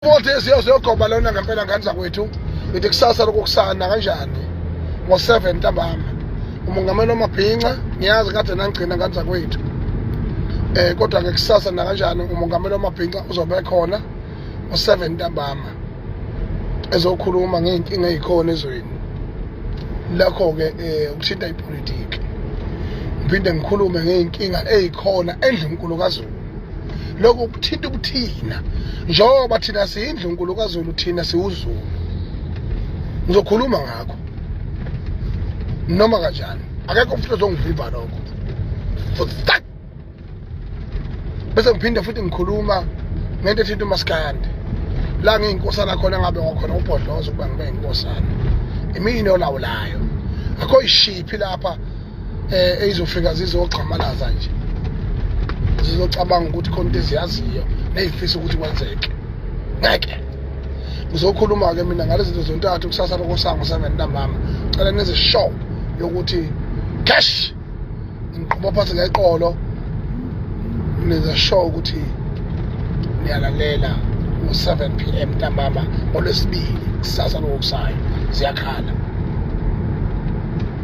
Kodwa esiyo siyogoba lona ngempela ngane zakwethu ithi kusasa lokukusana kanjani ngo-7 ntambama umongameli omabhinca ngiyazi kade nangigcina ngane zakwethu eh kodwa ke kusasa nakanjani umongameli omabhinca uzobe khona ngo-7 ntambama ezokhuluma ngey'nkinga ey'khona ezweni lakho-ke um eh, ukuthinta ipolitiki ngiphinde ngikhulume ngey'nkinga ey'khona endlunkulu kazulu lokhu kuthinta ubuthina njengoba thina siyindlu nkulu kazulu thina siwuzulu ngizokhuluma ngakho noma kanjani akekho umfutho ozongivimba lokho futhi bese ngiphinde futhi ngikhuluma ngento ethinta umaskandi la ngiyinkosana khona ngabe wakhona ubhodloza ukuba ngibe yinkosana imini olawulayo akho ishiphi lapha eh ezofika zizogxamalaza nje zizocabanga ukuthi khona into eziyaziyo neyifisa ukuthi kwenzeke ngeke ngizokhuluma-ke mina ngale zinto zontathu kusasa lokosango seven ntambama cela nenze show yokuthi cash ngiqhuba phansi ngeqolo nenza show ukuthi niyalalela ngo-7 p m ntambama olwesibili kusasa lokokusayo ziyakhala